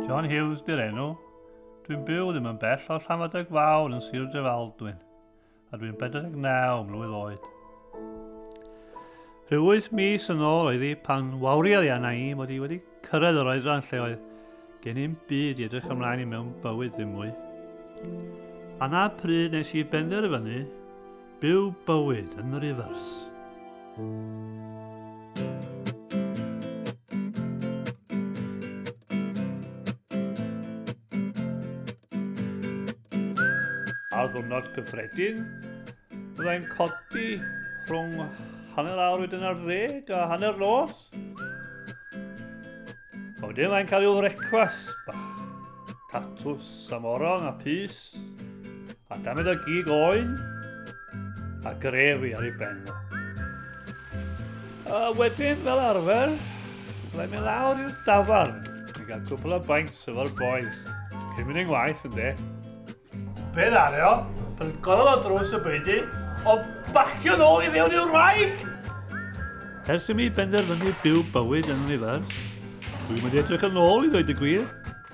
John Hughes di'r enw. Dwi'n byw ddim yn bell o Llanfadag Fawr yn Sir Drefaldwyn, a dwi'n 49 mlwydd oed. Rhyw wyth mis yn ôl oedd hi pan wawriad i anna i mod i wedi Cyrraedd yr oedran lle oedd gen i'm byd i edrych ymlaen i mewn bywyd ddim mwy. A na pryd nes i benderfynu byw bywyd yn rifers. Ar ddwrnod gyffredin, byddai'n codi rhwng hanner awr wedyn ar ddeg a hanner nos. A wedyn mae'n cael i'w frecwas bach. Tatws a morong a pys. A damed o gig oen. A grefi ar ei ben o. A wedyn fel arfer, byddai'n mynd lawr i'r dafarn. Ni'n cael cwpl o bainc sydd o'r boes. Cyn mynd i'n waith yn de. Be ddario? Pan golol o drws y beidi, o bacio nôl i fewn i'r wraig! Ers i mi benderfynu byw bywyd yn unifers, dwi'n mynd edrych yn ôl i ddweud y gwir.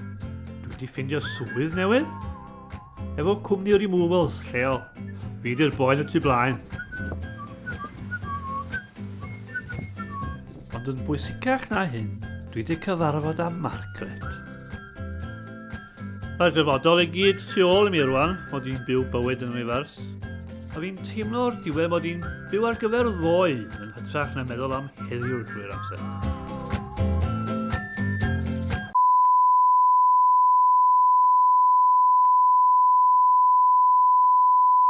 Dwi wedi ffindio swydd newydd, efo cwmni removals lleol. Fi di'r boen y tu blaen. Ond yn bwysicach na hyn, dwi wedi cyfarfod â Margaret. Mae'r dyfodol i gyd tu ôl i mi rwan, mod i'n byw bywyd yn rifars. A fi'n teimlo o'r diwedd mod i'n byw ar gyfer ddoe yn hytrach na meddwl am heddiw drwy'r amser.